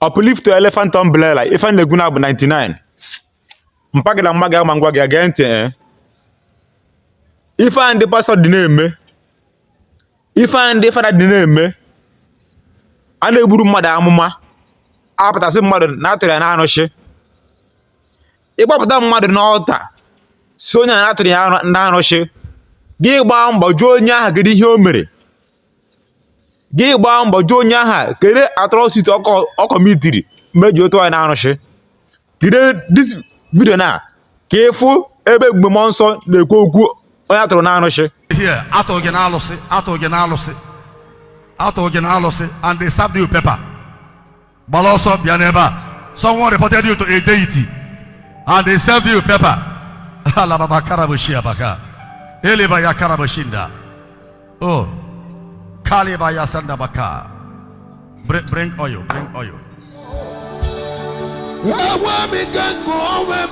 Uplift to Elephant Umbrella ife m na-agwa unu bụ 99 mpa gị na mma gị ama agwa gị gee ntị eh. ife a ndị pastọ dị na-eme ife a ndị fada dị na-eme a na-eburu mmadụ amụma a pụta sị mmadụ na a tụrụ ya n'arụsị ị kpọpụta mmadụ n'ọta sị onye a na a tụrụ ya n'arụsị gị gbaa mbọ jụọ onye aha kedu ihe o mere gị gbaa mbọ jụọ onye aha kere atrọsiti ọ kọmitiri mere e ji tụọ ya n'arụsị kirie dis vidio na ka ị fụ ebe Ebube Mmụọ Nsọ na-ekwu okwu onye a tụrụ n'arụsị a tụrụ gị n'alụsị a tụrụ gị n'alụsị a tụrụ gị n'alụsị and they serve you paper gbara ọsọ bịa n'ebe a someone reported you to a deity and they serve you paper alababa karaboshi abaka eleba ya karaboshinda oh kaliba ya sanda baka bring, bring oil bring oil enwe m ike nke onwe m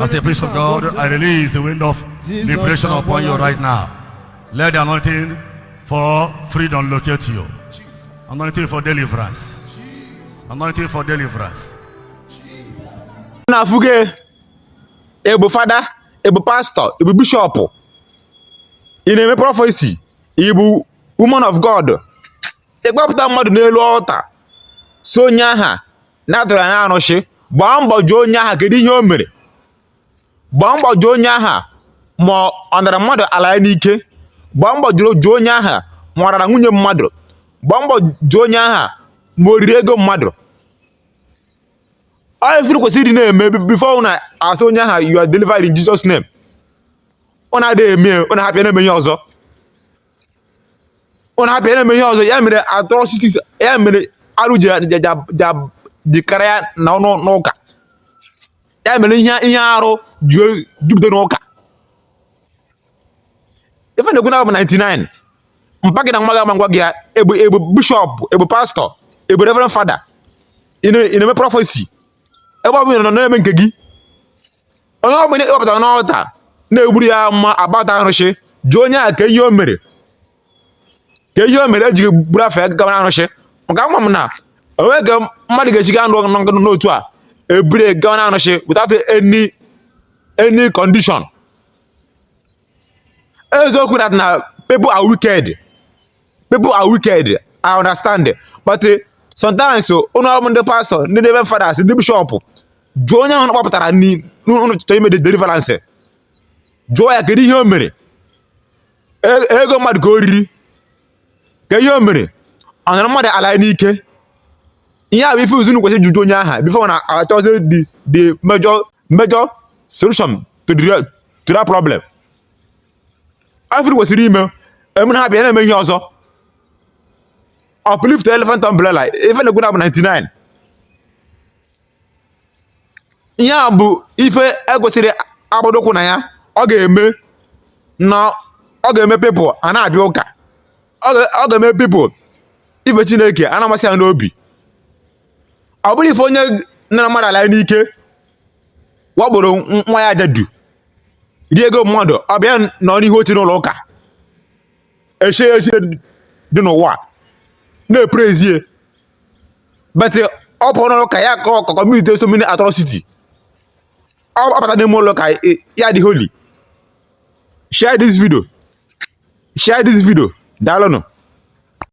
As a priest of God, I release the wind of liberation upon you right now. Let the anointing for freedom locate you. Anointing for deliverance. Anointing for deliverance. unu afụgo ya ị bụ fada ị bụ pastor ị bụ bishop ị na-eme prọfesi ị bụ woman of god ị kpọpụta mmadụ n'elu ọta sị onye aha na a tụrụ ya n'arụsị gbaa mbọ jụọ onye aha kedu ihe o mere gbaa mbọ jụọ onye aha ma ọ nara mmadụ ala ya n'ike gbaa mbọ jụọ onye aha ma ọ rara nwunye mmadụ gbaa mbọ jụọ onye aha ma o riri ego mmadụ ọ bụ ife unu kwesịrị ịdị na-eme bifo unu asị onye aha you are delivered in Jesus name unu adịghị eme unu ahapụ ya na-eme ihe ọzọ unu ahapụ ya na-eme ihe ọzọ ya mere atrocities ya mere arụ ji dịkarịa n'ụnọ ụka ya mere ihe ihe arụ ji jupụta n'ụka ife m na-agwa unu bụ 99 mpa gị na mma gị ama agwa gị ya ị bụ ị bụ bishọp ị bụ pastọ ị bụ reverend fada ị na-eme prọfesi ebe ọ bụla ị nọ na-eme nke gị onye ọ bụla ị kpọpụta n'ọta na-eburu ya amụma about arụsị jụọ onye a kee ihe o mere kee ihe o mere e jiri buru afa ya gawa arụsị maka ama m na o nweghị ka mmadụ ga-eji gaa nọrọ n'otu a e buru gawa arụsị without any any condition eziokwu that na people are wicked people are wicked i understand but eh, sometimes oh, unu bụ ndị pastọ ndị reverend fathers ndị bishọp jụọ onye ahụ unu kpọpụtara n'ọta chọrọ ime deliverance jụọ ya kedu ihe o mere e, ego mmadụ ka o riri kee ihe o mere ọ nara mmadụ ala ya n'ike ihe a bụ ife unu kwesịrị ịjụ onye aha bifọ a na-achọzi the the major major solution to the to that problem ife unu kwesịrị ime emere ha bịa na-eme ihe ọzọ uplift elephant umbrella ife m na-ekwu na bụ 99 ihe a bụ ife e kwesịrị ịgbadokwu anya ọ ga-eme na ọ ga-eme pipụl a na-abịa ụka ọ ga-eme pipụl ife chineke a na-amasị ya n'obi ọ bụrụ ife onye nara mmadụ ala n'ike wakporo nwaanyị ajadu rie ego mmadụ ọ bịa nọ n'ihu oche n'ụlọ ụka echie echi dị n'ụwa na-eprezie but ọ pụọ n'ụlọ ụka ya akọmiti so many atrocity ọ bata n'ime ụlọ ụka ya adị holy share this video share this video daalụnụ